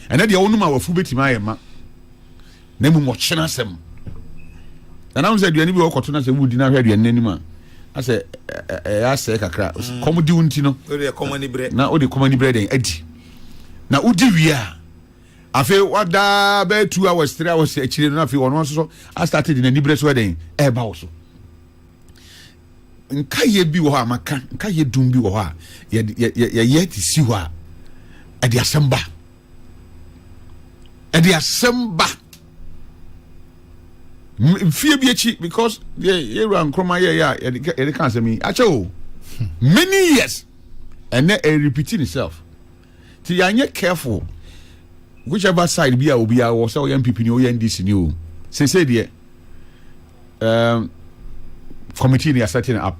ɛnɛ deɛ wonom awafo bɛtumi ayɛ ma na mmom ɔkyena asɛm nanam sɛ aduane bi wɔkɔto no sɛ wodi no ahwɛ aduane no anim a asɛ ɛyɛ asɛe kakra mm. kɔm di wo nti no na wode kɔm ani berɛ dɛn adi na wodi wie a afei wadaa bɛyɛ two hours three hours akyire no afei ɔno nso so astate de n'ani berɛ so ɛdɛn ɛreba wo so nkaeɛ bi wɔ hɔ a maka nkaeɛ dum bi wɔ hɔ a yɛyɛ de si hɔ a ɛde asɛm ba ɛde asɛm ba mfie bi akyi because yɛwura nkroma yɛyɛ a yɛde ka asɛm yi akyɛ o hmm. many years ɛnɛ ɛrepiti ne self Nti yɛanyɛ careful whichever side bi a obiara wɔ sɛ ɔyɛ npp ni ɔyɛ ndc ni o sese deɛ um, committee ni asɛte no up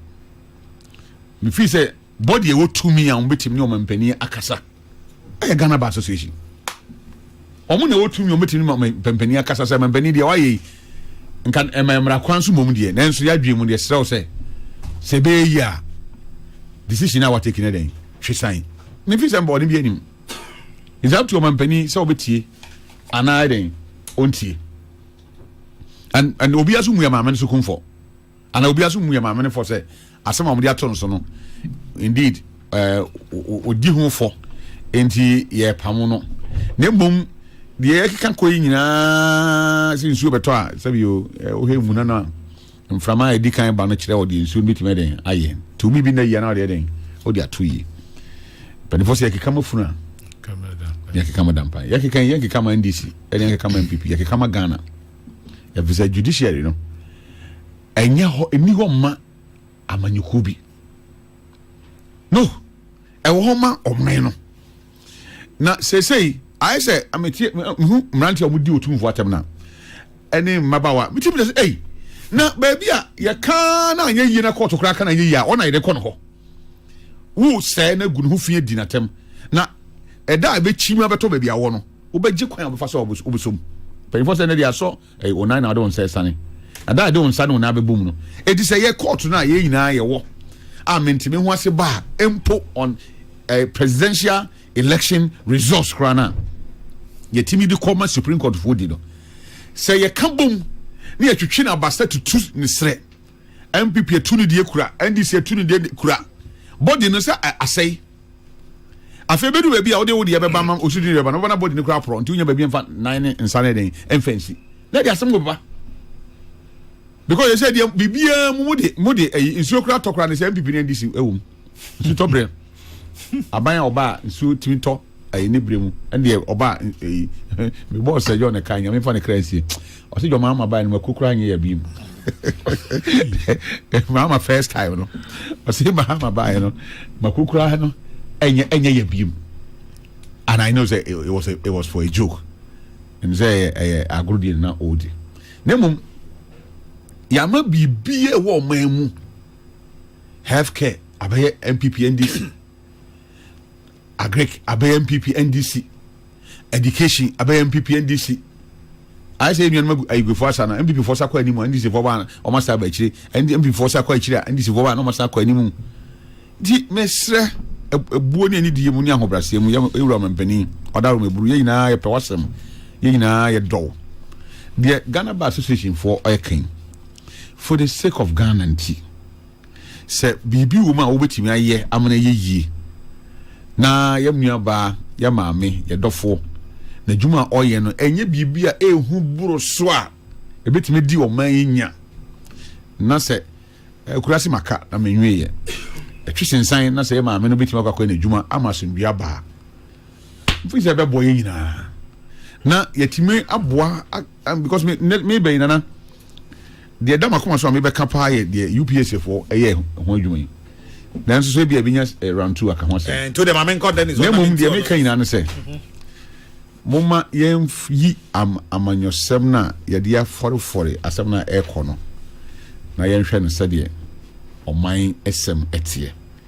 mefii sɛ body ɛwɔ tumi a wɔbɛtumi ne ɔmampanin akasa ɛyɛ ghana bar association Wɔn na ɛwɔ tumi, wɔbɛtumi ne ma mpampanin akasa sɛ mpampanin deɛ wayɛ yi nka ɛma mmara kwan so mmom deɛ nanso yɛadwene mu deɛ serɛ wo sɛ sɛ ɛbɛyɛ yi a decision a wateki no dɛn hwe san ne fi sɛ mbɔɔden bi anim it's up to ɔmampanin sɛ wɔbɛtie anaa dɛn ɔntie and and obiara so mu yɛ maame no so kumfɔ Anaa obiara nso mmu yɛn maame no fɔ sɛ asɛm a wɔde ato no so no, indeed, ɛɛ odi ho fɔ, enti yɛpam no. Na mmom deɛ yɛkeka kɔ yi nyinaa sɛ nsuo bɛtɔ a sɛbi o wohwɛ mmuna no a mframa a ɛdi kan ba no kyerɛ ɔde nsuo no bɛtumi ɛdɛn ayɛ nti omi bi nna yia na ɔde ɛdɛn ɔde ato yie mpanimfoɔ sɛ yɛkeka ma funu a yɛkeka ma dampa yɛkeka yɛkeka ma ndc ɛne yɛkeka ma npp yɛkeka ma ghana efisɛ judiciary no ɛnyɛ hɔ ɛni hɔ mma amanyɔkuo bi no ɛwɔ hɔ ma ɔman no na seesei ayɛ sɛ ametie mehu mmeranteɛ a wɔdi otumfoɔ atɛm no ɛne mmabawa metie bi sɛ ei na baabi a yɛka na anyɛ yie na kɔɔto koraa ka na anyɛ yie a ɔna yɛde kɔ no hɔ wo sɛɛ na gu ne ho fi adi n'atɛm na ɛda a ɛbɛkyi mu abɛtɔ baabi awɔ no wobɛgye kwan a wobɛfa so a wobɛsɔ mu. Mpanyinfoɔ sɛ ɛnɛ deɛ asɔ ɛyɛ wɔn nan na wɔde wɔn nsa ɛsane. Ada a yɛde wɔn nsa ne wɔn nan bɛbɔ mu no, eti sɛ yɛ kɔɔto no a yɛn nyinaa yɛwɔ a mente me ho ase baa mpo on eh, presidential election results koraa no a yɛtumi de kɔ ma Supreme Court foɔ di no. Sɛ yɛka bom na yɛtwetwe no abasa tutu ne serɛ NPP atu ne deɛ kura, NDC atu ne deɛ kura. Body no sɛ asɛe. Afei bɛdu baabi a wode wo deɛ bɛba ma ɔsudi ne bɛba no, wobɛba na body no kura aporɔ nti wonya baabi mfa nan ne nsa ne den mfa nsi. Na de asɛm bɛba. Because yɛsɛ deɛ biribiara mu mode mode ayi nsuo kura tɔ kura ne sɛ NPP ne NDC ɛwɔ mu. sutɔ berɛ aban a ɔba a nsuo tumi tɔ ɛyɛ ne berɛ mu ɛdeɛ ɔba ɛyi me bɔɔ sɛ yɔ ne ka nyame fa ne kra nsie ɔsɛ dwama ama baa ne ma kukura nyɛ yɛ bi mu maama first time no ɔsɛ maama baa no ma kukura no ɛnyɛ ɛnyɛ yɛ bi mu and I know say it, it was a, it was for a joke ɛmu sɛ ɛyɛ ɛyɛ agorɔ deɛ na ɔredi na mmom yɛama biribi a ɛwɔ ɔman mu. health care abɛyɛ npp ndc agric abɛyɛ npp ndc education abɛyɛ npp ndc ayɛ sɛ nnuanum agu ayigufo asa no npp fo sakɔ anim ndc fo ba wɔn asa aba akyire npp fo sakɔ akyire a ndc fo ba wɔn asa akɔ anim nti mesrɛ ebuo ne ani die mu ne ahobrɛaseɛ mu yɛ ewura ɔmɛ mpanyin ɔda ɔmɛ buru yɛ nyinaa yɛ pɛ wasɛm yɛ nyinaa yɛ dɔw deɛ ghana bar association foɔ ɔyɛ kɛn. For the sake of Ghana nti, sɛ biribi wɔ mu a wobɛtumi ayɛ ama no ayɛ yie na yɛn nuabaa, yɛn maame, yɛn dɔfoɔ, n'adwuma a ɔyɛ no, ɛnyɛ biribi a ɛhu boro so a ɛbɛtumi di ɔman yi nya na sɛ akurase maka na menweeɛ ɛtwe sensan na sɛ yɛ maame no bɛtumi akɔ akɔyɛ n'adwuma ama asomdua baa mfiri sɛ ɛbɛboa yɛn nyinaa na yɛtumi aboa Um because me ne me bɛyi nana deɛ ɛda makoma so a mebɛka paa yɛ deɛ UPS foɔ ɛyɛ ho adwuma yi nanso so ebi a ebinya eh, round two aka ho asɛm. Eh, nti o deɛ maame nkɔ dɛ ne so na mmom deɛ meka nyinaa ne sɛ mhm. momma yɛnyi am amanyɔsɛm no a yɛde afɔrefɔre asɛm no a ɛrekɔ no na yɛnhwɛ no sɛdeɛ ɔman ɛsɛm ɛteɛ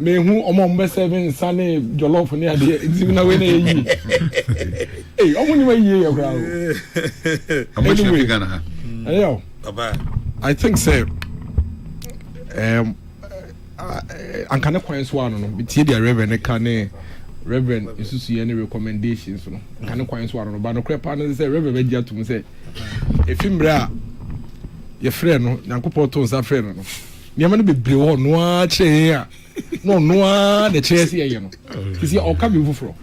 mehu ɔmo a ɔmo bɛ sɛve nsa ne jɔlɔf ne adeɛ nti na wei na yɛ yie ee ɔmo ni ma yie yɛ koraa o ɔmo ehyia fi ghana ha ɛyɛ o i think sɛ ɛɛm um, uh, uh, anka ne kwan so ano no tie deɛ reverend ne ka ne reverend nsusuiɛ ne recommendations no anka ne kwan so ano no ba no korɛ paa no sɛ reverend bɛgye atom sɛ efi mmerɛ a yɛfrɛ no nyankopɔn to nsa frɛ no no nneɛma no bebree wɔ ɔno ara kyerɛ yɛn a na ɔno ara na ɛkyerɛ sɛ yɛyɛ no sisi ɔka bi foforɔ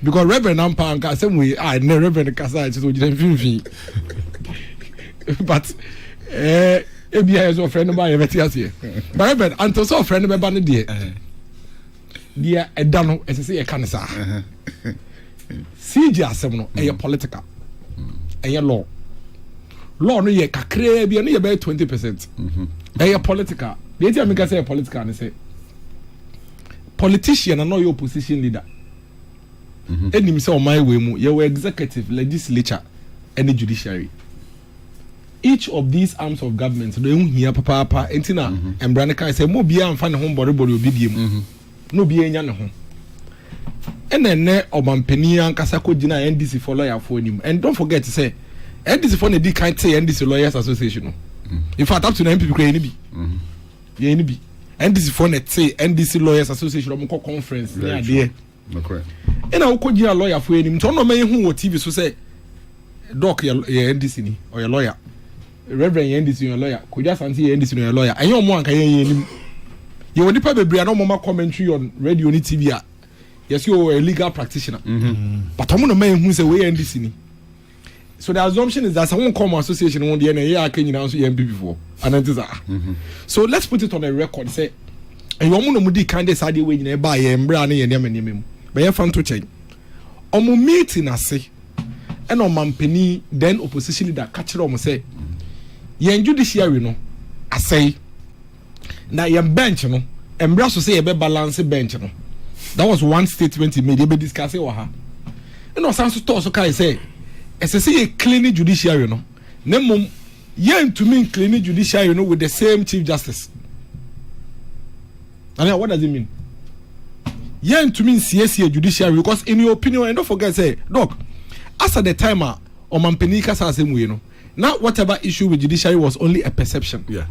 because reverend ampa anka asɛm wei a ah, ɛnɛ reverend kasa a ɛkyɛ sɛ ɔgyina mfimfini but eh, ebi a yɛ sɛ ɔfrɛ no ba yɛbɛte aseɛ but reverend anto sɛ ɔfrɛ no bɛba no deɛ deɛ ɛda no ɛsɛ sɛ yɛka no saa cg asɛm no ɛyɛ political ɛyɛ law law no yɛ kakraa bi ɛno yɛ bɛyɛ twenty percent mhm. ɛyɛ political deɛ ɛti a meka sɛ yɛ political no sɛ politician na na ɔyɛ opposition leader ɛnim mhm. sɛ ɔman wei mu yɛwɔ executive legislature ɛne judiciary Each of these arms of government no ehu hia papaapa nti na mhm. mbra no kae sɛ mo obiara mfa ne ho mbɔrebɔre obi bie mu mhm. na obiara nya ne ho ɛna ɛnɛ ɔmampanin ankasa kɔ gyina ndc fo lawyer fo anim and don't forget sɛ ndc fo na edi kan te ndc lawyers association no mhm. in fact up to na npp kura yɛn ni bi yɛn ni bi ndc fo na te ndc lawyers association ɔmo kɔ conference ne adeɛ. Ɛna wokɔ gyina lɔyafo anim nti ɔno ɔma yɛhu wɔ tv so sɛ dɔk yɛ ndc ni ɔyɛ lɔya reverend yɛ ndc ɔyɛ lɔya kodwa asante yɛ ndc ɔyɛ lɔya ɛnyɛ ɔmo anka yɛn yɛn anim yɛwɔ nipa bebree a na ɔmo ma commentary on radio ne tv a yɛsi ɔyɛ legal practitioner mm-hmm. but ɔmo na ɔma yɛhu sɛ wɔyɛ ndc ni so the assumption is that sɛ wọn kɔ ɔmo association wọn deɛ na ɛyɛ aka nyinaa nso yɛ npp foɔ anan ti saa so let's put it on a record sɛ ɛyɛ ɔmo na ɔmo di kan de saa adeɛ wɔ nyinaa ɛbaa yɛ mmerɛ ne yɛ nneɛma nneɛma mu bɛyɛ fa nto kyɛn ɔmo meeting ase ɛna ɔmampanin then opposition leader ka kyerɛ ɔmo sɛ yɛn judiciary no asɛe. na yɛn bench no mmra so sɛ yɛbɛ balance bench no that was one statement he made yɛbɛ discuss wɔ ha ɛna ɔsan so tɔɔ so kae sɛ ɛsɛ sɛ yɛ clean judiciary no na mmom yɛntumi clean judiciary no with the same chief justice I mean, what does it mean yɛntumi nsiesie judiciary because in your opinion and don't forget say doc as at the time a ɔmampanin kasa asɛm wei no Na whatever issue with judiciary was only a perception. Yeah.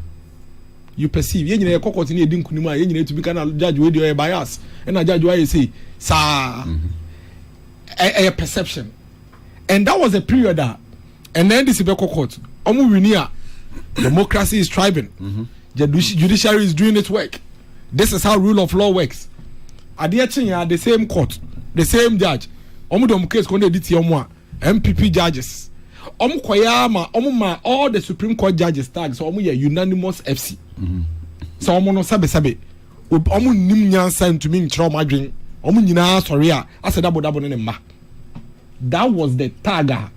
You perceive. Yɛn nyinaa yɛkɔ kɔɔte ne yɛdi nkunim a yɛn nyinaa tumi ka na judge wei deɛ ɔyɛ bias ɛna judge wei ayɛ sei saa. Ɛyɛ mhm. perception. And that was a period a ɛnna ndc bɛkɔ court wɔn wini a democracy is thriving. Mm -hmm. Judiciary is doing its work. This is how rule of law works. Adeɛ kyen ya the same court the same judge wɔn de wɔn case kɔn de ɛdi tie wɔn a. NPP judges wɔn kɔyɛ ara ma wɔn ma all the supreme court judges tag sɛ wɔn yɛ unanimous fc sɛ wɔn no sɛbesɛbe wɔn nim nyansa ntumi nkyerɛ wɔn adwene wɔn nyinaa sɔre a asɛ dabodabo ne ne mma that was the tag a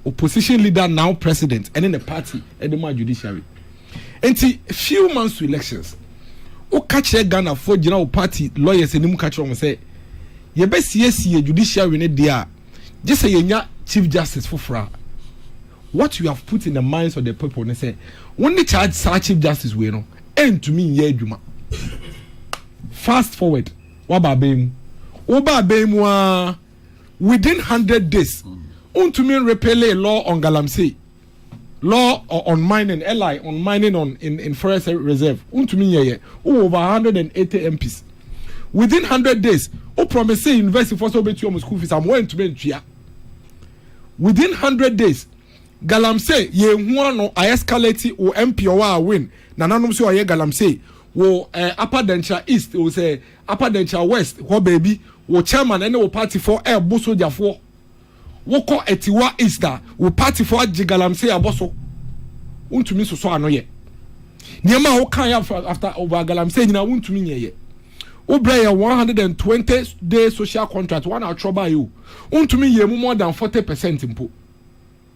opposition leader now president ɛne ne party ɛde ma judiciary nti few months to elections woka kyerɛ ghanafoɔ gyina wo party lawyers anim ka kyerɛ wɔn sɛ yɛbɛsiesie judiciary ne deɛ a gye sɛ yɛnya chief justice foforɔ a what you have put in the minds of the people ne sɛ wo ne charge saa chief justice wei no ɛntumi nyɛ adwuma fast forward waba abɛn mu woba abɛn mu a within hundred days wontumi repele law on galamsey Law on mining, LI, on mining on in, in forest reserve. Untumi nyɛ yɛ. Wowɔ over 180 MPs. Within 100 days, wo promise university fo sɛ wobɛtua wɔn school fees ama wɔantumi ntua. Within 100 days, galamsey yɛhu ano a escalate wo MP ɔwɔ a win. Nananom sɛ ɔyɛ galamsey wo eh, Upper Denkyira East, wo sɛ Upper Denkyira West hɔ baabi, wo chairman ne wo party fo ɛɛbo sogyafoɔ. Wo kɔ atiwa east a wo party fo agye galamsey abɔ so wo ntumi sosɔ ano yɛ nneɛma a wo kan yɛ after over galamsey nyina wo ntumi nyɛ yɛ wo brɛ yɛ 120 day social contract wana atwerɛ ba yɛ o wo ntumi yɛ mu more than 40 percent mpo.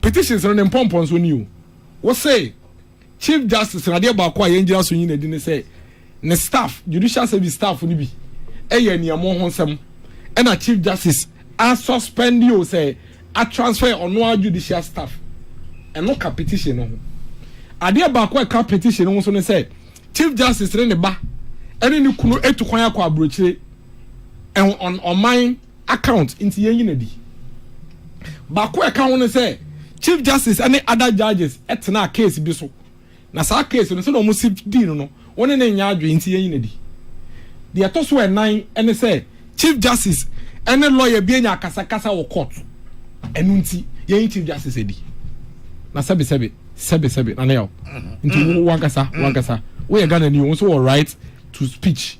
Petitions no ne mpɔmpɔnso ni o. Wose, Chief Justice no adeɛ baako a yɛn gyina so nyi no adi ne sɛ ne staff, Judicial Service staff no bi yɛ aniammɔ ho nsɛm ɛna Chief Justice a suspend o sɛ a transfer ɔno ara Judicial staff. Ɛno ka petition no ho. Adeɛ baako a ɛka petition no ho nso ne sɛ Chief Justice ne ne ba ɛne ne kunu etu kwan akɔ aburokyire ɛho ɔman account nti yɛnyi no adi. Baako a ɛka ho ne sɛ Chief Justice ne other judges tenaa case bi so na saa case no sɛdeɛ wɔsi dii no no wo ne ne nyɛ adwene nti yɛnyi no adi. Deɛ ɛtɔ so ɛnan ne sɛ Chief Justice ne lawyer bi anya akasakasa wɔ court ɛno nti yɛnyi Chief Justice adi. Na sɛbe sɛbe sɛbe sɛbe na ne yaw nti wo wankasa wankasa woyɛ Ghana ni wo nso wɔ right to speech.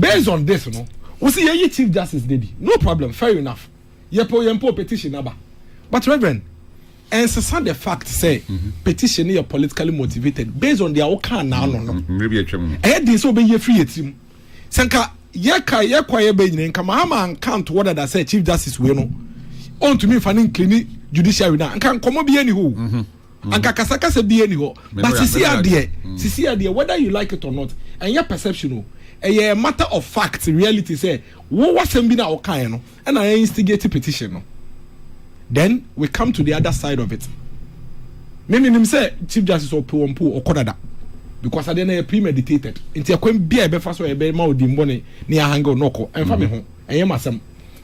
Based on this no, wo se yɛyi Chief Justice no adi, no problem, fair enough, yɛpɛ o yɛmpɛ o petition no aba. But Reverend, ɛnsesa the fact sɛ petition no yɛ politically motivated based on deɛ wokaa naano no. Mmerɛ bi atwam no. Ɛyɛ den sɛ wobɛyi afiri yɛn tirim. Sɛ nka yɛka yɛkɔ yɛbɛ nyina nka Mahama anka ntoɔ dada sɛ Chief Justice wei no ɔntumi mfa no ncleani judiciary no a, nka nkɔmmɔ biara nni hɔ o. Mm. anka kasakasa bie ni hɔ but sisi adeɛ mm. sisi adeɛ whether you like it or not ɛnyɛ perception o ɛyɛ matter of fact reality sɛ wo wasɛm bi na ɔkaeɛ no ɛna ɛyɛ instigate petition no then we come to the other side of it ne ne nim sɛ chief justice ɔpɛ wɔn po ɔkɔ dada because adeɛ no yɛ premeditated nti ɛkwan bi a ɛbɛfa so ɛbɛ ma odi mbɔ ne ne ahanga ɔnɔkɔ ɛnfa mi ho ɛyɛ ma sɛm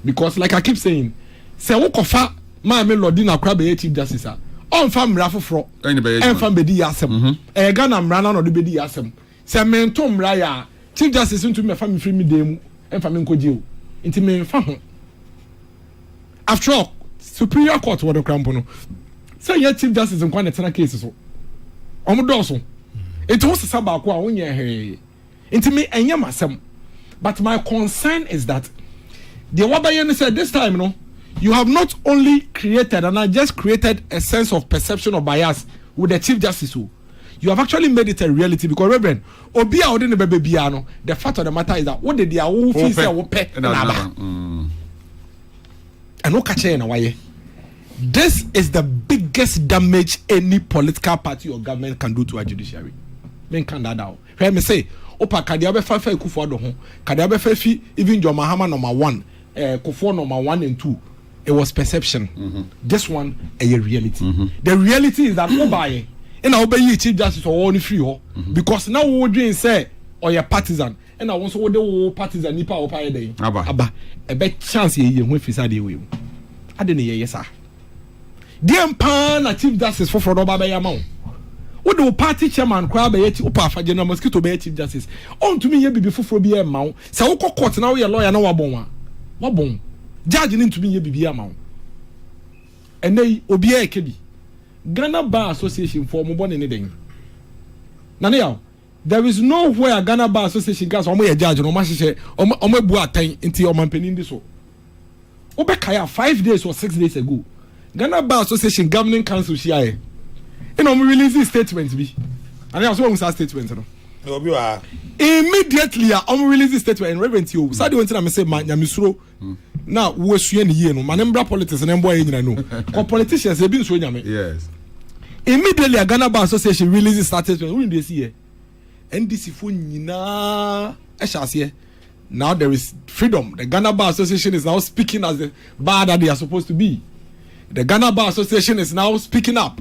because like i keep saying sɛ wokɔfa Maame Lordi na kora bɛyɛ Chief Justice a, ɔmfa mmara foforɔ ɛmfa mbɛdi yɛ asɛm. Mhm. Ɛyɛ Ghana mmara no na ɔde bɛdi yɛ asɛm. Sɛ mento mmara yɛ a, Chief Justice ntumi mɛfa me mfiri me dan mu mfa me nkɔgye o. Nti memfa ho. After all, Superior Court wɔ no kora mpo no, sɛ nyɛ Chief Justice nkoa na ɛtena case so. Wɔn dɔɔso. Nti wosesa baako a wonyɛ hwee. nti me ɛnyɛ m'asɛm but my concern is that deɛ wabɛyɛ ne sɛ this time no you have not only created and I just created a sense of perception of bias with the chief justice o you have actually made it a reality because reverend obi a ɔde ne bɛbɛ biara no the fact of the matter is that wo de deɛ awo fi sɛ wo pɛ na aba ɛno ka kyɛn na wayɛ. This is the biggest damage any political party or government can do to our judiciary. Men can that out. Hwɛ, mese wo pa, ka deɛ wobɛfa afa Akufo Addo ho, ka deɛ wobɛfa afi even John Mahama number one, eh, Kufuor number one and two, it was perception, mm-hmm. this one ɛyɛ reality. Mm-hmm. The reality is that wobaeɛ ɛna wobɛyi Chief Justice ɔwɔ no firi hɔ mm-hmm. because na wodwen sɛ ɔyɛ partisan ɛna wo nso wode wo partisan nipa a wɔpa yɛ dɛn aba ɛbɛ chance yɛyɛ ho ɛfiri sɛ adeɛ wei mu ade ne yɛyɛ saa deɛn paa na chief justice foforɔ no ɔba bɛyɛ ama wo wode wo party chairman koraa bɛyɛ ti wopɛ afa general mosquito bɛyɛ chief justice ɔntumi nyɛ biribi foforɔ bi ɛmma wo sɛ wokɔ court na woyɛ lawyer na wabɔn a wabɔn judge no ntumi nyɛ biribi ama wo ɛnɛ yi obiara ɛkɛ bi Ghana Bar Association fɔ ɔmo bɔ ne ne dɛn na ne yaw There is no where Ghana Bar Association ka sɛ wɔn yɛ judge no wɔn ahyehyɛ wɔn wɔn abu atɛn nti ɔmanpanin di so. Wobɛkae a five days or six days ago Ghana Bar Association governing council hyiaeɛ ɛna wɔn release statement bi. Anaa so wɔn saa statement no. Obi wɔ ha. Immediately a wɔn release statement and reverend ti o. Sadi wɔn ti na mi se ma nyamesuro. na woasua ne yie no ma ne mbra politics na mboa yɛ nyina no kɔ politicians ebi nsuo nyame immediately a Ghana Bar Association release status wone deɛ si yɛ NDC fo nyinaa ɛhyɛ aseɛ now there is freedom the Ghana Bar Association is now speaking as the bar that they are supposed to be the Ghana Bar Association is now speaking up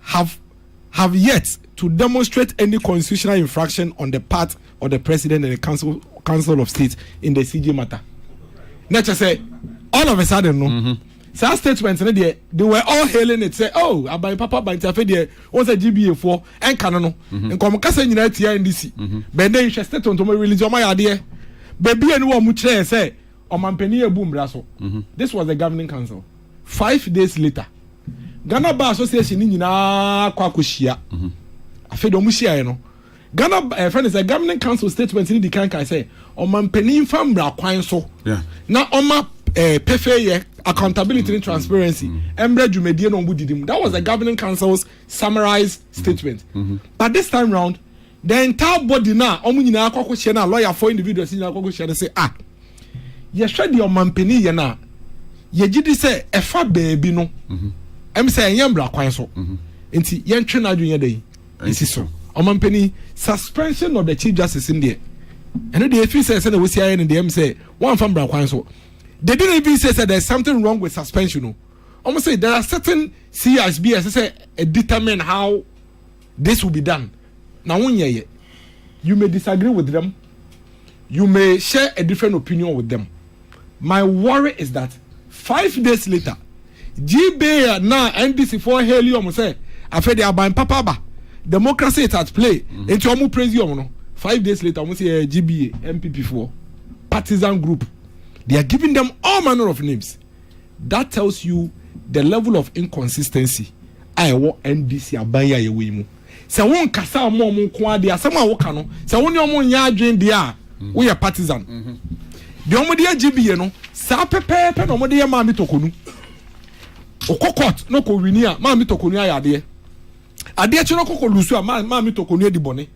have have yet to demonstrate any constitutional infraction on the part of the president and the council council of state in the CJ matter. Na kyerɛ sɛ all of a sudden no. Mm -hmm. saa statement no deɛ they were all hailing it sɛ oh aban papa aban ti afei deɛ wɔn sɛ gba foɔ ɛnka no no mhm. nkɔm kasa nyinaa tia ndc mhm. bɛn dɛ nhwɛ statement wɔn release wɔn ayɛ adeɛ beebi a ni wɔn kyerɛ sɛ ɔmanpanin yɛ bu mmira so mhm. this was the governing council. Five days later, Ghana Bar Association no nyinaa kɔ akɔhyia. Afei deɛ wɔhyiaeɛ no, Ghana ɛfɛ no sɛ Governing Council statement no di kan kae sɛ ɔmampanin mfa mmara kwan so na ɔma pefeeyɛ, accountability ne transparency mmra dwumadie no a wɔdidi mu. That was the Governing Council's summarized statement. But this time round, The entire body no a wɔn nyinaa kɔ akɔhyia no a lɔyafoɔ individuals nyinaa kɔ akɔhyia no sɛ a ah, yɛhwɛ deɛ ɔmampanin yɛ no a yɛgye di sɛ ɛfa baabi no mhm. ɛm sɛ ɛnyɛ mmara kwan so mhm. nti yɛntwe no adwene yɛ dɛ ɛsi so ɔmampanin suspension of the chief justice n deɛ ɛno deɛ ɛfiri sɛ sɛdeɛ wɔsi ayɛ no deɛ ɛm sɛ wɔamfa mmara kwan so they didn't even say sɛ there is something wrong with suspension no wɔn sɛ there are certain CISB ɛsɛ sɛ determine how This will be done na wo nyɛ yɛ. You may disagree with them, you may share a different opinion with them, my worry is that five days later Gbea naa NDC foɔ haili ɔmo sɛ afei de aban papa aba, democracy is at play, mm-hmm. nti ɔmo praise ɔmo no, five days later ɔmo sɛ ɛyɛ Gbea, NPP foɔ, partisan group, they are giving them all manner of names. that tells you the level of inconsistency a ɛwɔ NDC aban yi a yɛwɔ yi mu sɛ wo nkasa a ɔmo ɔmo nko adeɛ asɛm a woka no sɛ wo ne ɔmo nyɛ adwene deɛ a woyɛ partisan deɛ ɔmo de agye bie no saa pɛpɛɛpɛ na ɔmo de yɛ maame tokonu ɔkɔ court na ɔkɔ wini a maame tokonu ayɛ adeɛ adeɛ kye no ɔkɔkɔ lusu a maame tokonu adi bɔne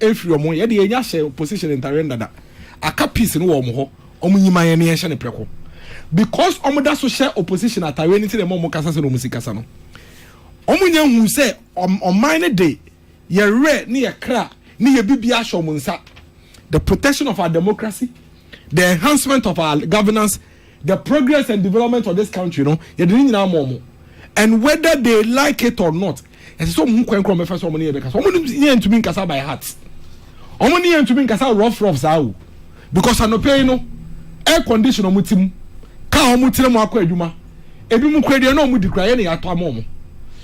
Efiri ɔmo yɛde yɛn nya hyɛ position ntareɛ no dada aka peace no wɔ ɔmo hɔ ɔmo nyi ma yɛn ne yɛn hyɛ no prɛko because ɔmo da so hyɛ opposition atareɛ no nti na ɛma ɔmo kasa sɛdeɛ ɔmo si kasa no ɔmo nya nhuu sɛ ɔman no de yɛ werɛ ne yɛ kra ne yɛ bibia ahyɛ ɔmo nsa the protection of our democracy the enhancement of our governance the progress and development of this country no yɛde ne nyinaa ma wɔn and whether they like it or not ɛsɛ sɛ wɔn ho kwan kura wɔn bɛfa so wɔn ne yɛ bɛkasa wɔn ne yɛ ntumi nkasa by heart wɔn ne yɛ ntumi nkasa rough rough saa o because anɔpɛ yi no air condition wɔn ti mu kaa wɔn tiri mu akɔ adwuma ebi mu kura deɛ na wɔn di kura yɛ ne yɛ ato ama wɔn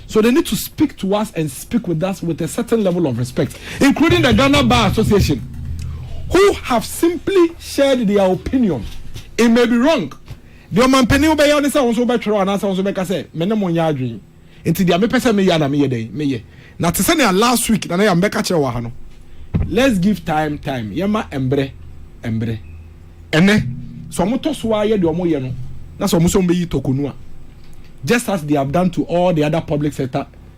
so they need to speak to us and. speak with us with a certain level of respect, including the Ghana Bar Association, who have simply shared their opinion. It may be wrong. Deɛ ɔmampanin wobɛyɛ ne sɛ wo nso wobɛtwerɛ anaasɛ wo nso bɛka sɛ me ne mo nyɛ adwene. Nti deɛ mepɛ sɛ meyɛ na meyɛ dɛn meyɛ. Na te sɛnea last week na na yɛ mebɛka kyerɛ wɔ ha no, let's give time time yɛma mbrɛ mbrɛ. Ɛnɛ sɛ wɔn tɔ so ara yɛ deɛ wɔn yɛ no na sɛ wɔn sɛ wɔn bɛyi tɔkonu a just as they have done to all the other public sector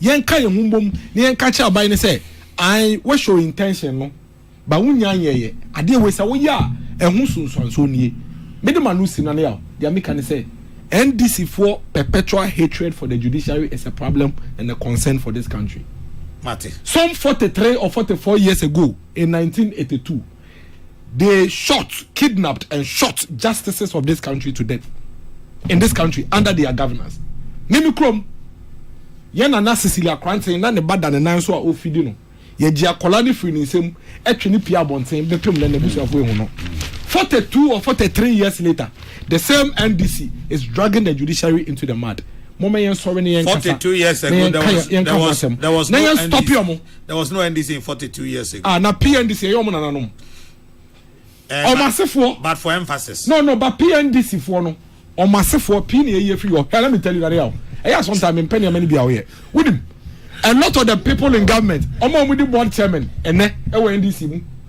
Yɛnka yɛn ho mmom na yɛnka kyerɛ aban no sɛ, Ae, woahyɛ intention no, but wonnya nyɛeɛ. Adeɛ a ɛwɔ sɛ woyɛ a ɛho sunsuansoɔ nie. Mede m'ano si no ano yaw. Deɛ meka ne sɛ, NDC foɔ perpetual hatred for the judiciary is a problem and a concern for this country. Some forty three or forty four years ago in nineteen eighty two, They shot, kidnapped and shot justices of this country to death in this country under their governance. Mimi krom. Yɛ nana Cecilia Kranten na ne ba da ne nan so a ofidi no. Yɛgye akwadaa no firi ne nsam ɛtwe ne pia abɔnten bɛtwam na n'abusuafo ehu no. 42 or 43 years later, the same NDC is dragging the judiciary into the mud. Momma yɛn sɔre na yɛn kasa. 42 years ago, there was, there was, there was no NDC. There was no NDC in 42 years ago. Ah, na PNDC ɛyɛ ɔmo nananom. Ɔmo asefoɔ. But for emphasis. No, no, but PNDC foɔ no. Ɔmo asefoɔ pii na ɛyɛ firi hɔ. Hwɛ, let me tell you that yɛ ɛyɛ sometimes mi mpɛ nneɛma ni bi a ɔyɛ. Wonim, a lot of the people in government, ɔmo a ɔmo di board chairman ɛnɛ ɛwɔ NDC mu.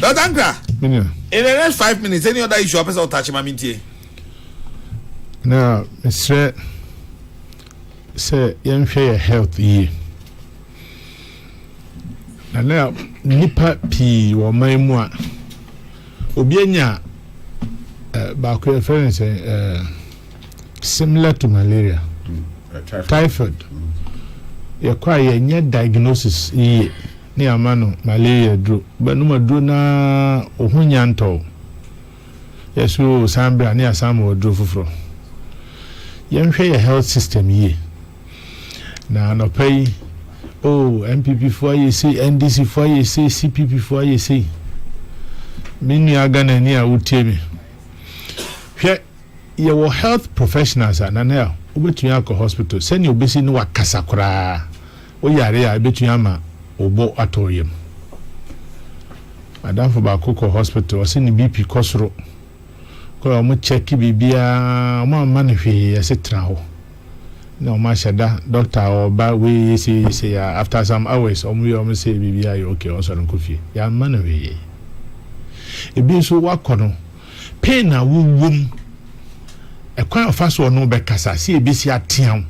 Dr. Ankra, in the next five minutes, any other issue, I person touch my mintie. Now, Mr. Sɛ yɛnhwɛ yɛ health yie na na nnipa pii wɔ ɔman mu a obi anya eh, baako yɛfrɛ no sɛ eh, similar to malaria typhoid yɛkɔ a yɛnyɛ diagnosis yie ne yɛama no malaria duro bɛnom aduro no ara wo ho nya ntɔw yɛsoro san berɛ a ne yɛasan ma ɔduro foforɔ yɛnhwɛ yɛ health system yie na anɔpa yi o oh, npp foɔ ayɛ sei ndc foɔ ayɛ sei cpp foɔ ayɛ sei me nua ghanani a wotie me hwɛ Yɛwɔ health professionals a Nanel wobɛtumi akɔ hospital sɛnea obesi ne wakasa koraa wo yare a ɛbɛtumi ama wo bo atɔ wo yam. Madamfo baako kɔ hospital ɔse ne BP kɔ soro kɔɛ ɔmo check biribiara ɔmo amma no hwee yɛse tena hɔ na ɔmo ahyɛ da doctor ɔba wei yese yese ya after some hours ɔmo yɛ ɔmo se biribiara yɛ okay ɔnsɔre nkɔ fie yɛamma no hwee ebi nso wakɔ no Pain a wowom, ɛkwan a ɔfa so ɔne wo bɛkasa, sɛ yɛbɛsi atea wo.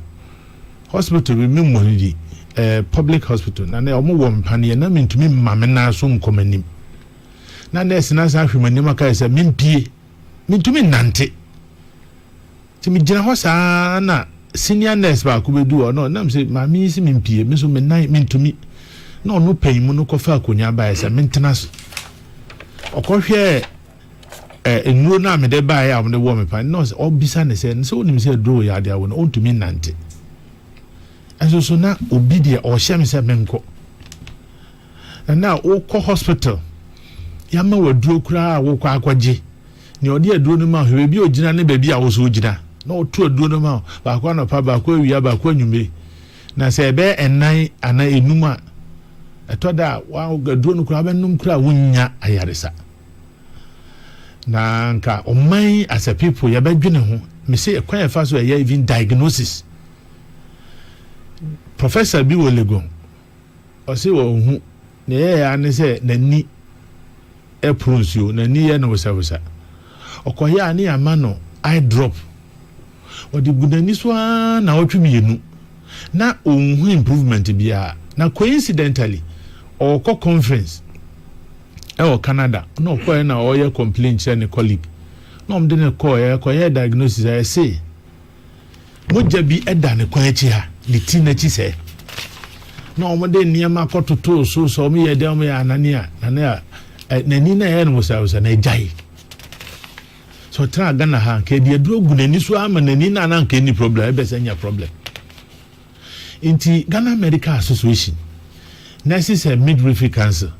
Hospital bi, memmɔ no di, eh, public hospital, na na wɔwɔ mpaneɛ, na mentumi mma me nan so nkɔ m'anim. Na nɛɛse no asan ahwɛ m'anim aka sɛ mempie, mentumi nnante. Nti me gyina hɔ saa ara na senior nurse baako bɛ du hɔ na ɔnam sɛ maame yi se me mpie me nso me nan me ntumi na ɔno pɛn mu no kɔ fa akonya baeɛ sɛ me ntena so ɔkɔ hwɛ ɛ nnuro no a me de baeɛ a wɔn de wɔ me pa nurse ɔbisa ne sɛ ne sɛ onim sɛ aduro yɛ adeɛ awo no ɔntumi nante ɛso so na obi deɛ ɔhyɛ me sɛ me nkɔ Ɛna a wokɔ hospital, yɛama wo aduro koraa a wokɔ akɔgye. Nea ɔde aduro no ma wo, baabi a ogyina ne baabi a wo nso wogyina. Na ɔto aduro no ma wo, baako anɔpa, baako awia, baako anwummere. Na sɛ ɛbɛyɛ ɛnan anaa enum a, ɛtɔ da a wa aduro no koraa wobɛnom koraa a wonnya ayaresa. Na nka ɔman yi as a people yɛbɛdwene ho. Mese ɛkwan yɛfa so ɛyɛ even diagnosis. Professor bi wɔ Legon Ɔse wanhu, nea ɛyɛɛ ara ne sɛ n'ani poro nsuo, n'ani yɛ no wesawesa. Ɔkɔeɛ a ne yɛama no eye drop, ɔde gu n'ani so ara nnawɔtwe mmienu na ɔnhu improvement biara. Na coincidentally, ɔrekɔ conference wɔ Canada na ɔkɔeɛ na ɔreyɛ complain kyerɛ ne colleague na wɔde no kɔeɛ, ɛkɔyɛɛ diagnosis a, ɛse Mogya bi da ne kwan akyi ha, ne ti no akyi sɛɛ. Na wɔde nneɛma kɔtotoo so sɛ wɔyɛ dɛn wɔyɛ anane a, na na n'ani no ayɛ no wosawosa na agyae. Sɛ ɔtena Ghana ha, nka ɛde aduro gu n'ani so ama n'ani no a na nka ɛnni problem, ɛbɛsɛ nya problem. Nti Ghana Medical Association, Nurses and Midwifery Council,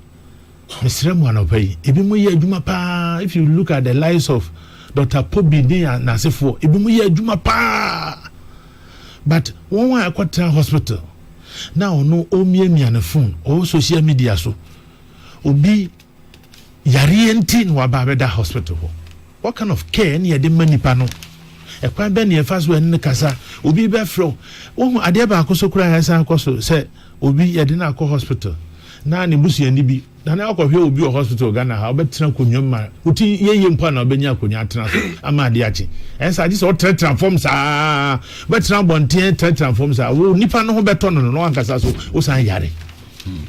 Mesrɛ mo anɔpa yi, ebinom yɛ adwuma paa. If you look at the lives of Dr. Pobi ne n'asefoɔ, ebinom yɛ adwuma paa. But wɔn a ɛkɔtena hospital na ɔno ɔmiamia ne phone ɔwɔ social media so, obi yareɛ nti na waba abɛda hospital hɔ. What kind of care ne yɛde ma nipa no? Ɛkwan bɛn ne yɛfa so ɛne no kasa? Obi bɛfrɛ wo, wohu adeɛ baako so koraa ɛsan kɔ so sɛ obi yɛde no akɔ hospital na ne busuani bi na na ɔkɔhwɛ obi wɔ hospital Ghana ha ɔbɛtena akonnwa mu ma wo ti yɛyɛ mpo a na ɔbɛnya akonnwa atena so ama adeɛ akye ɛnsa agye sɛ ɔtenatena fam saa bɛtena abɔnten tenatena fam saa wo nipa no ho bɛtɔ no no na wankasa so wosan yare. Hmm.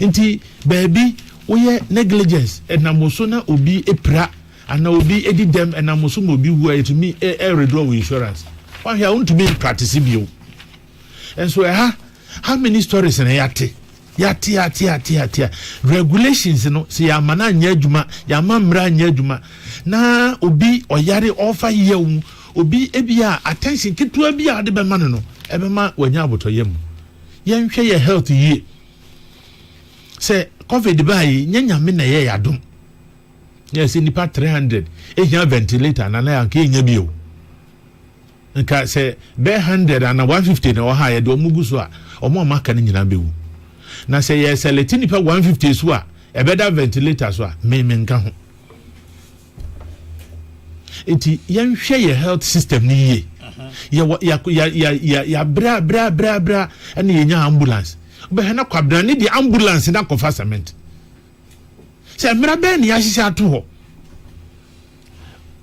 Nti baabi woyɛ negligence ɛnam wo so na obi pira anaa obi di dɛm ɛnam wo so ma obi wu a yɛtumi ɛredoa wɔ insurance wahwɛ a wontumi mpractice bio nso ɛha how many stories na yɛate yɛate yɛate yɛate yɛate regulations no sɛ yɛama no anyɛ adwuma yɛama mmara anyɛ adwuma na obi ɔyare ɔfa yɛ wo obi ebi a attention ketewa bi a ɔde bɛma no no ɛbɛma wanya abotɔyam yɛnhwɛ yɛ health yie sɛ covid baa yi nyɛ nyame na ɛyɛ yadom yɛ sɛ nipa 300 ehia ventilator na na anka enya bio nka sɛ bɛɛ 100 ana 150 na ɔha yɛ de ɔmo gu so a ɔmo a maka no nyinaa bɛwu na sɛ yɛ sɛlɛte nipa 150 so a ɛbɛda ventilator so a me me nka ho Nti yɛnhwɛ yɛ health system no yie. Yɛwɔ ya ya ya ya yabra bra bra bra ɛna yɛnya ambulance. Wobɛhwɛ na kwabena ne deɛ ambulance na akɔfa cement. Sɛ mmara bɛn na yɛahyehyɛ ato hɔ.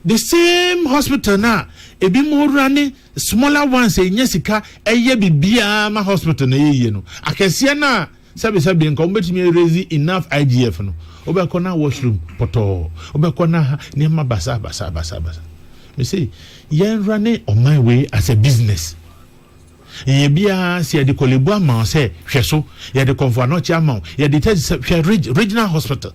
The same hospital na ebi mu wura ne smaller ones ɛnyɛ sika ɛyɛ bibiara ma hospital na ɛyɛ yie no. Akɛseɛ no a Sɛbesɛbe nka wobɛtumi a raise enough IGF no, wobɛkɔ na washroom pɔtɔɔ, wobɛkɔ na ha nneɛma basa basa basa basa. Me se yɛn rane ɔman wei as a business. Yɛyɛ biara sɛ yɛde kɔlebu ama wo sɛ hwɛ so, yɛde kɔmfoanɔkye ama wo, yɛde tɛ sɛ hwɛ reg, regional hospital.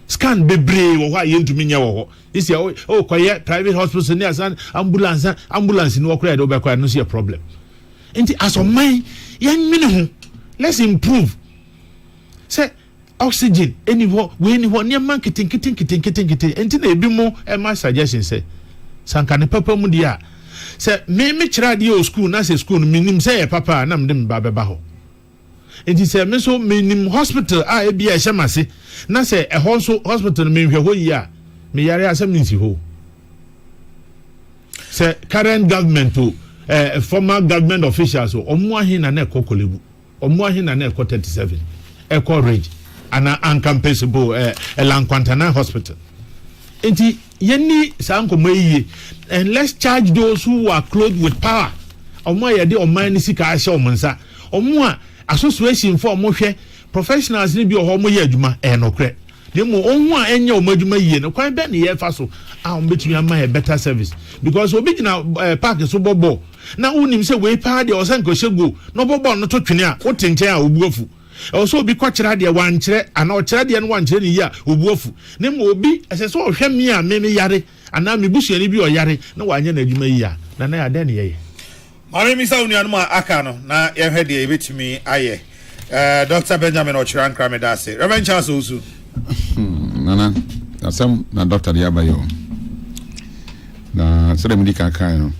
Scan bebree wɔ hɔ a yɛntumi nyɛ wɔ hɔ. Isi a wokɔyɛ private hospital ne asan ambulance, ambulance ni wɔkora yɛde wobɛkɔ a ɛno nso yɛ problem. Nti as ɔman yɛnwene ho let's improve sɛ oxygen ɛni hɔ wei ni hɔ nneɛma nketenkete nketenkete nkete ɛnti na ebi mo ɛma suggestion sɛ sanka ne papa mu deɛ a sɛ me me kyerɛ adeɛ wɔ school na sɛ school no menim sɛ yɛ papa a na mede me ba bɛba hɔ. Enti sɛ me nso menim hospital a ebia ɛhyɛ m'ase na sɛ ɛhɔ nso hospital no menhwɛ hɔ yie a, meyare a asɛm no nsi hɔ. Sɛ current government o, eh, former government officials o, ɔmo ahe na na ɛkɔ Korle Ɔmo ahe na na ɛkɔ 37, ɛkɔ Ridge, anaa Ankampesi bo, eh, Elankwantana hospital. Enti yɛnni saa nkɔmmɔ yi yie and let's charge those who are clothed with power, ɔmo a yɛde ɔman no sika ahyɛ ɔmo nsa Ɔmo a association fo a ɔmo hwɛ professionals no bi wɔ hɔ a ɔmo yɛ adwuma, ɛyɛ nokorɛ. Na mmom wɔn ho a ɛnyɛ ɔmo adwuma yie no, kwan bɛn na yɛfa so a ɔmo bɛtumi ama yɛ better service? Because obi gyina ɛɛ park so bɔ bɔɔl na wo nim sɛ wei paa deɛ ɔsɛ nka ɔhyɛ goal na ɔbɔ bɔɔl no to twene a, wo te nkyɛn a wo bo afu. Ɛwɔ sɛ obi kɔ kyerɛ adeɛ wankyerɛ anaa ɔkyerɛ adeɛ no wankyerɛ no yie a, wo bo afu. Na mmom obi ɛsɛ sɛ ɔhwɛ me a me me yare. anaa me busuani bi ɔyare na wanyɛ n'adwuma yie a, Nanayaa, dɛn na yɛyɛ? Ma memmisa wo nuanom a aka no, na yɛnhwɛ deɛ yɛbɛtumi ayɛ. Eh, Dɔkta Benjamin Ɔkyerɛ Ankrah, meda ase. Rev. Charles Owusu. Hmm, Nana, asɛm na dɔkta de aba yi o. Na sɛdeɛ medi kan kae no,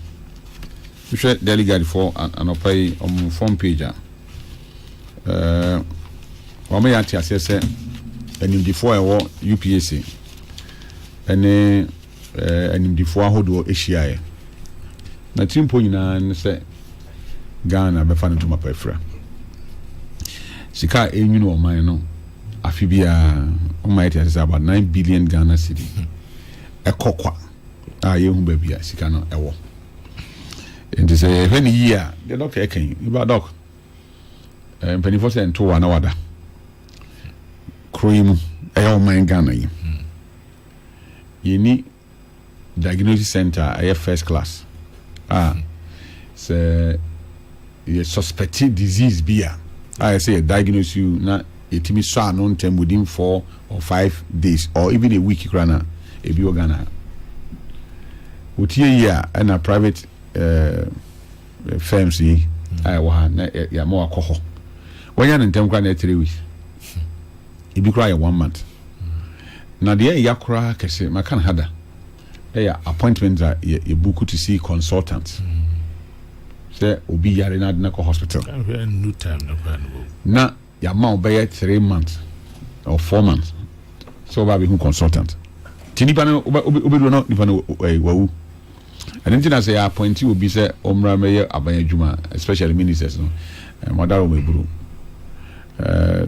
Wohwɛ Daily Guide foɔ anɔpa yi wɔn front page a, wɔama yɛate aseɛ sɛ animdefoɔ a ɛwɔ UPAC ne animdefoɔ ahodoɔ hyiaeɛ. N'atirimpɔ nyinaa ne sɛ Ghana bɛfa no ntoma pa afira. Sika a ɛrenwini ɔman no afe biara, wɔma yɛate aseɛ sɛ about nine billion Ghana cedi ɛkɔ kwa a yɛnhu baabi a sika no ɛwɔ. nti sɛ yɛhwɛ no yie a deɛ dɔk ɛka yi nipa dɔk eh, mpanimfoɔ sɛ nto wa na wada kuro yi mu ɛyɛ ɔman ghana yi yɛni diagnosis center a ɛyɛ first class a sɛ Yɛ suspecte disease bi a a yɛ sɛ yɛ diagnose you na yɛ tumi sɔ ano ntɛm within four or five days or even a week koraa no a, ebi wɔ Ghana ha. Wo tie yie a ɛna private eh, firms yi a ɛwɔ ha na yɛ ama wakɔ hɔ. Wanya no ntɛm koraa na ɛyɛ three weeks. Ebi koraa yɛ one month. Na deɛ ɛya koraa kɛse, maka no ha da. Yɛ appointment dza yɛ yɛ buku to see consultant sɛ obi yare na adi na kɔ hospital. Na yɛama wo bɛyɛ three months or four months sɛ ɔba abɛhu consultant nti nipa no wobɛduro no nipa no wawu ɛno nti na sɛ yɛ appointi obi sɛ ɔmmra mɛyɛ aban adwuma especially ministers no mɔdara wɔn eburu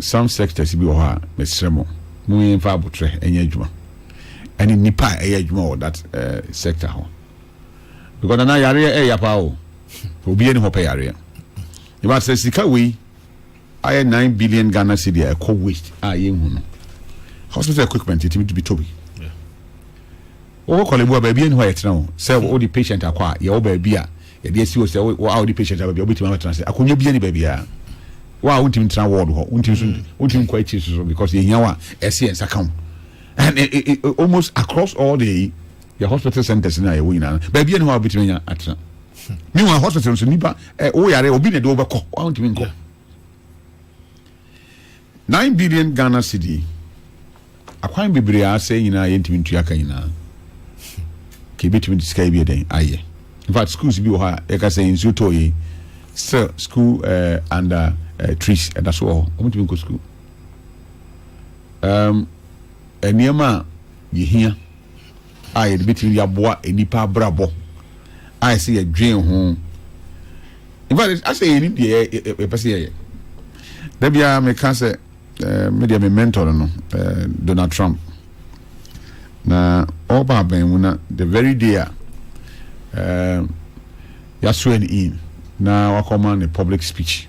some sectors bi wɔ hɔ a mesrɛ mo monyɛ mfa abotrɛ ɛnyɛ adwuma ɛne nipa a ɛyɛ adwuma wɔ that sector ho because nana yareɛ ɛya paa o obi ɛni hɔ pɛ yareɛ yɛba sɛ sika wei ayɛ nine billion Ghana cedi a ɛkɔ waste a yɛnhu no hospital equipment yɛtumi de bi tɔ bi wɔkɔ kɔlɛbu a baabi ɛni hɔ a yɛtena o sɛ wɔde patient akɔ a yɛwɔ baabi a yɛde asi o sɛ wɔ a wɔde patient a baabi a wɔbɛtumi abɛtena sɛ akonnwa bi ɛni baabi a wɔ a wontumi tena ward hɔ wontumi so wontumi nkɔ akyiri soso because yɛhia wɔ a ɛsi yɛn nsa ka ho and it, it, it, almost across all the yɛ hospital centers na yɛwɔ nyinaa baabi yɛ ne hɔ a wobɛtumi anya atena meanwhile hospital nso nipa eh, woyare obi na ɛde wobɛkɔ wontumi nkɔ nine billion ghana cedi akwan bebree a asɛe nyinaa yɛntumi ntua ka nyinaa ka ɛbɛtumi de sika yi bi ɛdɛn ayɛ infact schools bi wɔ hɔ a yɛka sɛ nsuo tɔɔ yei still school uh, under uh, trees ɛda so wɔ hɔ ɔmotumi nkɔ school Ɛɛm, nneɛma a yehia a yɛde betumi de aboa nnipa abrabɔ a ɛsɛ yɛdwen ho. In fact, asɛ yɛn ni deɛ yɛpɛ sɛ yɛyɛ. Da biara meka sɛ ɛɛ me deɛ me mentor no no ɛɛ Donald Trump. Na ɔba abɛn mu na the very day a ɛɛ yaswear no in na wakɔma ne public speech.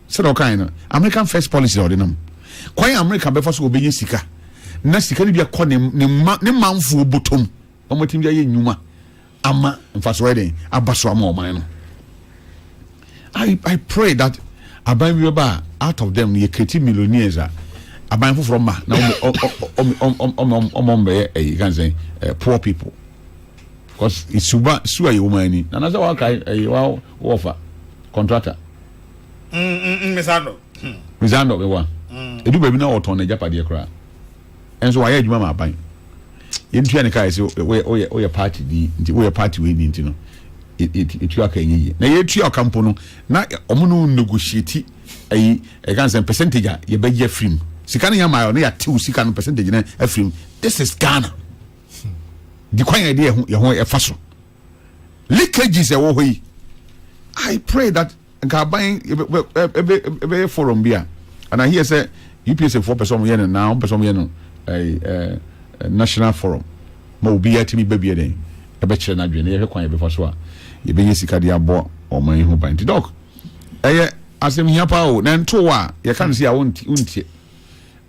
Sɛdeɛ ɔkaeɛ no, American First policy a ɔde nam kwan a America bɛfa so wɔbɛnya sika na sika no bi akɔ ne ne ma ne manfoɔ bɔtɔm na wɔatumi de ayɛ nnwuma ama mfasoɔ ayɛ den aba so ama ɔman no I, I pray that aban bi bɛba a out of them no yɛkreti millionaires a aban foforɔ ma na ɔmɔmbɛyɛ ɛyi kan sɛn poor people because suba su a yɛwɔ mu ani na nasɛ wakae ɛyi wa wɔfa contractor mmisa dɔ mmisa dɔ bɛ wa edu baabi na ɔtɔn n'agyapadeɛ koraa ɛnso wayɛ adwuma ma aban yɛntua ne kaa sɛ woyɛ woyɛ party ni nti woyɛ party wei ni nti no yɛtua ka ɛnyɛ yie na yɛtua ka mpo no na ɔmo no negotiate ayi ɛka sɛ percentage a yɛbɛgye afiri mu sika no yɛma ɔno yɛatew sika no percentage no afiri mu this is Ghana di kwan yɛde yɛho yɛho ɛfa so leakages ɛwɔ hɔ yi i pray that nka aban ɛbɛyɛ forum bi a and i hear sɛ upsa foɔ pɛ sɛ ɔmo yɛ no na ɔmo pɛ sɛ ɔmo yɛ no ɛɛ ɛɛ national forum ma obi atumi bɛ bi ɛdɛn ɛbɛkyerɛ n'adwene na yɛhwɛ kwan yɛbɛfa so a yɛbɛnya sika de abɔ ɔman yi ho ban nti dɔk ɛyɛ asɛm hia paa o na ntow a yɛka no si a wontie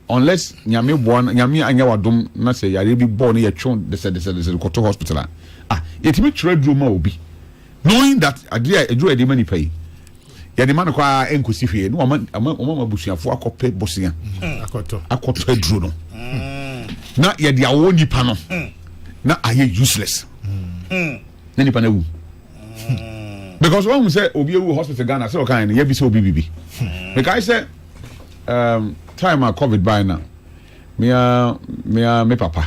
Unless Nyame boa no Nyame anyɛ wadom na sɛ yareɛ bi bɔɔ no yɛtwe wo dɛsɛdɛsɛdɛsɛ de kɔto hospital a ah yɛtumi twerɛ aduro ma obi knowing that adeɛ a aduro a yɛde ma nipa yi yɛde ma no kɔ ara ɛnkɔsi hwee na wɔma wɔma wɔma abusuafoɔ akɔpɛ bosea akɔtɔ aduro no na yɛde awɔ nipa no na ayɛ useless na nipa no awu. hmm. because wɔn sɛ obi ewu hospital ghana sɛ ɔkan no yɛ bi sɛ obi bibi hmm. mekae sɛ um, time a covid by na mea mea me papa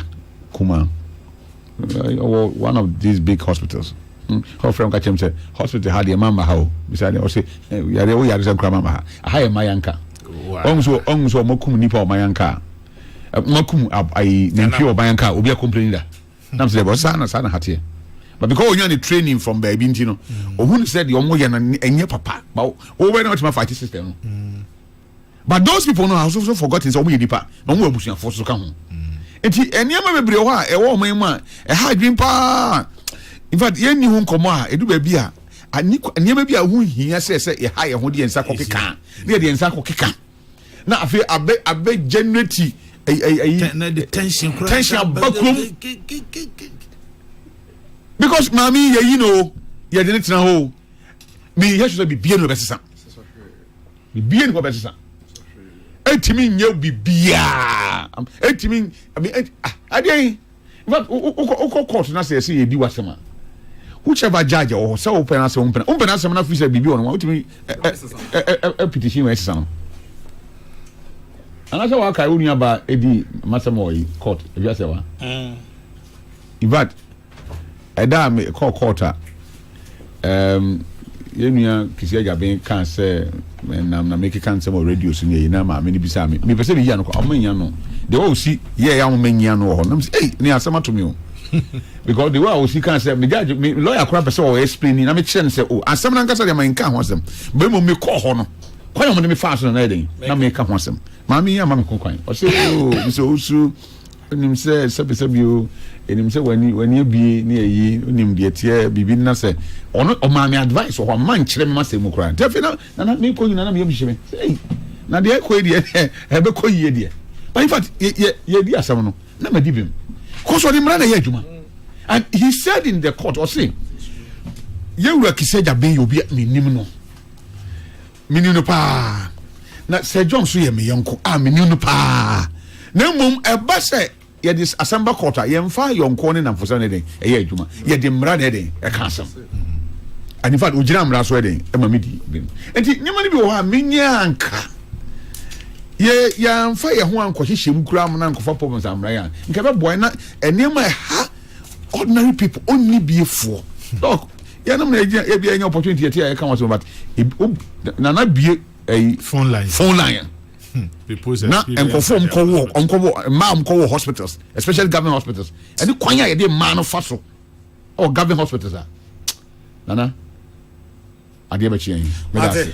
kuma ɔwɔ uh, one of these big hospitals ɔfrɛ m ka kyɛm sɛ hospital ha deɛ mama ha o bisa deɛ ɔse yareɛ wo yare sɛ nkora mama ha aha yɛ ma yɛnka ɔhu sɛ ɔhu sɛ ɔmakum nnipa ɔma yɛnka a makum ayi nantwie ɔma yɛnka a obi akomplani da na mesɛ bɔ saa na saa na ha teɛ but because onya ne training from baabi nti no ohun mm. sɛ deɛ ɔmo yɛ no ɛnyɛ papa ba wɔwɔ na ɔtumi afa ati system no mm. but those people no ahosuo so forgotten sɛ ɔmo yɛ nipa na ɔmo wɔ abusuafo so ka ho mm. nti nneɛma bebree hɔ a ɛwɔ ɔmo yi mu a ɛha adwene paa in fact yɛn ni ho nkɔmɔ a edu baabi a nneɛma bi a ho hia sɛ sɛ yɛha yɛn ho de yɛn nsa kɔ keka ne yɛ de yɛn nsa kɔ keka. na afei abɛ abɛ generate ɛyi ɛyi na de tension kura tension aba kurom because maame yi yɛyi no o yɛde ne tena hɔ o meyɛ hwɛ sɛ bibie no bɛsesa bibie no bɛsesa ɛntumi nyɛ bibiaa ɛntumi adeɛ in fact wokɔ wokɔ court na sɛ ɛsɛ yɛdi w'asɛm a whichever judge ɛwɔ hɔ sɛ wopɛ n'asɛm wompɛ na wompɛ n'asɛm na firi sɛ biribi wɔ no ma wotumi petition ma ɛsesa no anaasɛ wakae wo nuabaa ɛdi masɛm wɔ yi court ɛdwa sɛ wa in fact ɛda a mekɔ court a Um, yɛn nua Kisi Agyaben kaa sɛ nam na mekeka nsɛm wɔ radio so ne na maame no bisaa me mepɛ sɛ meyia no ɔma nyia no deɛ ɔsi yɛ yɛ ahoma nyia no wɔ hɔ nam sɛ ei ne asɛm ato me o because the way a ɔsi kaa sɛ megyagye me lɔya koraa pɛ sɛ ɔwɔ explain na mekyerɛ no sɛ o asɛm no ankasa deɛ ma nka ho asɛm bɛ mmom mekɔɔ hɔ no kwan a ɔmo de me faa so no na yɛ den na meka ho asɛm maame yi ama me ho kwan ɔsɛ o mesɛ ɔsu Onim sɛ sɛbesɛbe o, enim sɛ w'ani w'ani abue ne ayi, onim deɛ teɛ biribi na sɛ ɔno ɔmaa me advice wɔ hɔ a mma nkyerɛ me ma sɛ mu koraa nti afei na nana mekɔ nyina na meyam hyehye me sɛ ei na deɛ ɛkɔ yi deɛ ɛbɛkɔ yie deɛ but in fact yɛdi asɛm no na madi bem kɔ so ɔde mmara na ɛyɛ adwuma and he said in the court ɔse yɛwura kisɛ gya ben yɛ obi a menim no Meni no paa, na Sir John nso yɛ me yɔnko a meni no paa. Na mmom ɛba sɛ yɛde asɛm ba kɔɔto a, yɛmfa yɔnkoɔ ne nnamfosɛm no den ɛyɛ adwuma, yɛde mmara na ɛden ɛka asɛm. And in fact, ogyina mmara so ɛden ɛma me di bem. Nti nneɛma no bi wɔ hɔ a menyɛ anka yɛ yɛamfa yɛn ho ankɔhyehyɛ mu koraa na nkɔfa problems ammra yɛn a nka ɛbɛboa na nneɛma ɛha ordinary people ɔnni biefoɔ. Dɔk, yɛnom na ɛgyina ebi ɛnyɛ opportunity yɛte a yɛka wɔn asɛm but nana bie ɛyi phone line phone line hmm, na nkɔfo nkɔwɔ nkɔwɔ mmaa nkɔwɔ hospitals especially government hospitals ɛne kwan a yɛde mmaa no fa so ɛwɔ government hospitals a nana adeɛ bɛkye yɛn mɛda ase.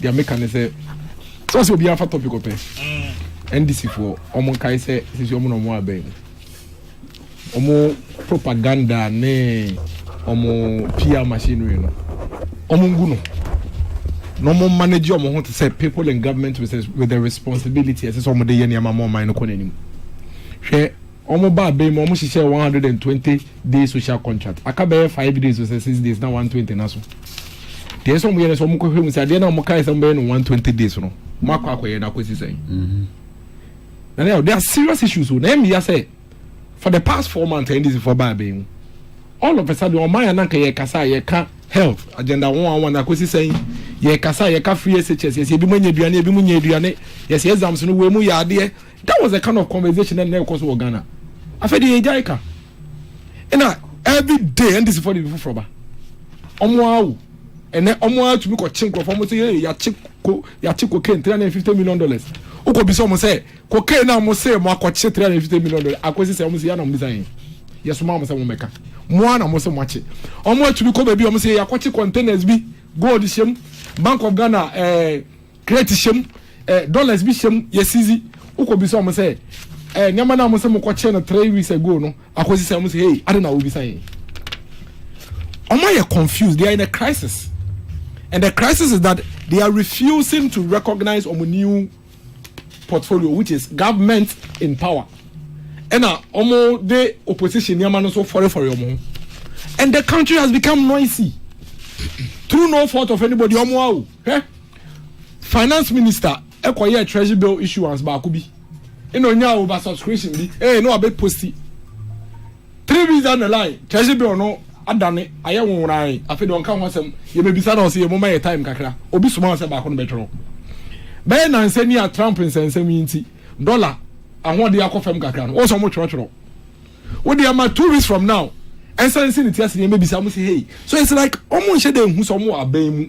deɛ meka ne sɛ sɛ sɛ obiara fa topic ɔpɛ ndc foɔ ɔmo nkae sɛ sisi ɔmo na ɔmo abɛn mu ɔmo propaganda ne ɔmo pr machinery no ɔmo ngu no na ɔmo manage ɔmo ho te sɛ people in government with, with the responsibility ɛsɛ sɛ ɔmo de yɛ nneɛma ma ɔman no kɔ n'anim hwɛ Wɔbaa bem ma wɔhyehyɛɛ one hundred and twenty days social contract. Aka bɛyɛ five days ɔsɛ six days na one twenty no aso. Deɛ ɛsɛ sɛ wɔyɛ no sɛ wɔkɔhwɛ mu sɛ adeɛ no a wɔkae sɛ wɔbɛyɛ no one twenty days no wɔakɔ akɔyɛ no akɔsi sɛn. Na ne yɛ there are serious issues o na ɛyɛ meya sɛ for the past four months ɛyɛ ndc foɔ baa bɛn mu all of a sudden wɔn ayɛ ananka yɛ kasa a yɛ ka health agenda wɔn a wɔn na akɔsi sɛn yɛ kasa a yɛ ka free SHS yɛ sɛ ebi mo anya aduane ebi mo nya aduane yɛ sɛ exams no wɔ mu yɛ adeɛ That was the kind of conversation na ɛkɔ so wɔ Ghana. Afei de yɛgyae ka. Ɛna every day NDC fo de bi foforɔ ba. Wɔn awo. Ɛnɛ wɔn ara tumi kɔkye nkurɔfoɔ wɔn sɛ yɛ yɛakye ko yɛakye cocaine three hundred and fifty million dollars. Wokɔ bisa wɔn sɛ cocaine a wɔn sɛ wɔn akɔkye three hundred and fifty million dollars akɔsi sɛ wɔn sɛ yɛ na wɔn bisa yɛn. Yɛsoma wɔn sɛ wɔn bɛka. Wɔn ara na wɔn sɛ wɔn akye. Wɔn atumi kɔ baabi wɔn sɛ yɛ yɛakɔkye containers bi gold hyɛm Bank of Ghana ɛɛ. Eh, Crate hyɛ mu, eh, dollars bi hyɛ mu, yɛ sizi. Wokɔ bisa wɔn sɛ, eh, nneɛma no a wɔn sɛ mokɔ kyerɛ no three weeks ago no, akɔsi sɛ wɔn sɛ, hey, ade na wobisa yɛn. Wɔn ayɛ confused, they are in a crisis. And the crisis is that they are refusing to recognize wɔn new portfolio, which is government in power. Ɛna wɔn de opposition nneɛma no so fɔrefɔre wɔn ho. And the country has become noisy. Through no fault of anybody, wɔn awo. Hwɛ, finance minister ɛkɔ yɛ treasury bill issuance baako bi, ɛna onyaa over subscription bi, ɛyɛ na wabɛ posti. Three weeks down the line, treasury bill no adane ayɛ nwonwonaae, afei deɛ ɔnka ho asɛm, yɛbɛbisa na ɔsɛ yɛ moma yɛ time kakra, obi soma ɔsɛ baako no bɛtwerɛ. Bɛyɛ nansɛ ni a Trump nsɛnsɛm yi nti, dollar ahoɔden akɔ fam kakra no, wɔn sɛ wɔn twerɛtwerɛ. Wode ama two weeks from now, ɛnsa nsi ne ti ase yɛn bɛbisa mo sɛ hey, so it's like wɔn nhyɛ dɛ nhu sɛ wɔn wɔ abɛn mu.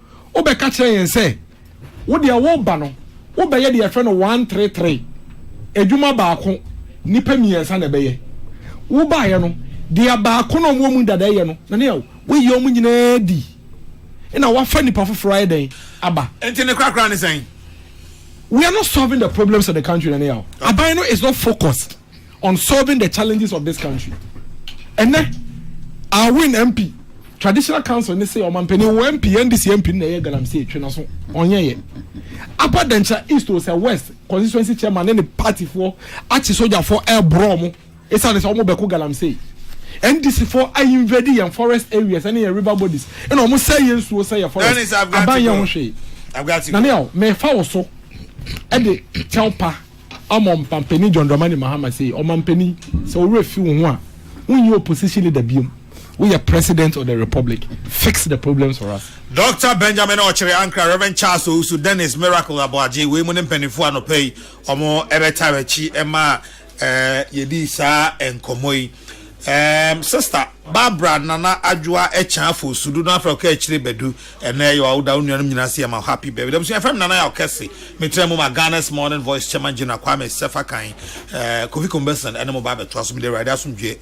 Wobɛka kyerɛ yɛn sɛ wo deɛ woreba no wobɛyɛ deɛ yɛfrɛ no one three three, adwuma baako nnipa mmiɛnsa na ɛbɛyɛ. Wobaeɛ no deɛ baako na wɔn a wɔwɔ mu dada reyɛ no na ne a woayi wɔn nyinaa adi na woafa nnipa foforɔ ayɛ dɛn aba. Nti ne korakora ne sɛn? We are not solving the problems of the country na ne a aban no is not focused. on solving the challenges of this country ɛnɛ our win mp traditional council ne se ɔmampanin wɔ mp ndc mp ne na ɛyɛ galamsey twe na so ɔnyɛ yɛ apa dɛnkyerɛ east o sɛ west constituency chairman ne ne party foɔ akye sogyafoɔ ɛɛborɔ mo ɛsiane sɛ wɔn bɛko galamsey ndc foɔ a invade yɛn forest areas ɛne yɛn river bodies ɛna wɔn sɛ yɛn nsuo sɛ yɛ forest aban yɛn ho hwee na ne yɛ o mɛfa wɔ so ɛde kyɛw pa. Amon mpampanin John Dramani Mahama sei, Ɔmampanin, sɛ wo werɛ fi wo ho a, wonyɛ opposition leader biom, woyɛ President of the Republic, fix the problems for us. Doctor Benjamin Ɔkyere Ankrah, Rev. Charles Owusu, Dennis Miracle Aboagye, wei mo ne mpaninfoɔ anɔpa yi, wɔn ɛbɛtaa w'akyi ɛmaa yɛdii saa nkɔmmɔ yi. Eeemm sista Barbara Nana Adwoa Akyan Fosu do no afrɛ wo kɛ akyire bɛdu ɛnɛ yɛ woda wo nuanom nyina ase yɛma wo happy birthday abusua yɛfrɛ me Nana Yaw Kɛse metra mu ma Ghana's Morning Voice Chairman General Kwame Sɛfakan Kofi Kombɛsen ɛne mo ba abɛtoa so mede Awurade asomdwoeɛ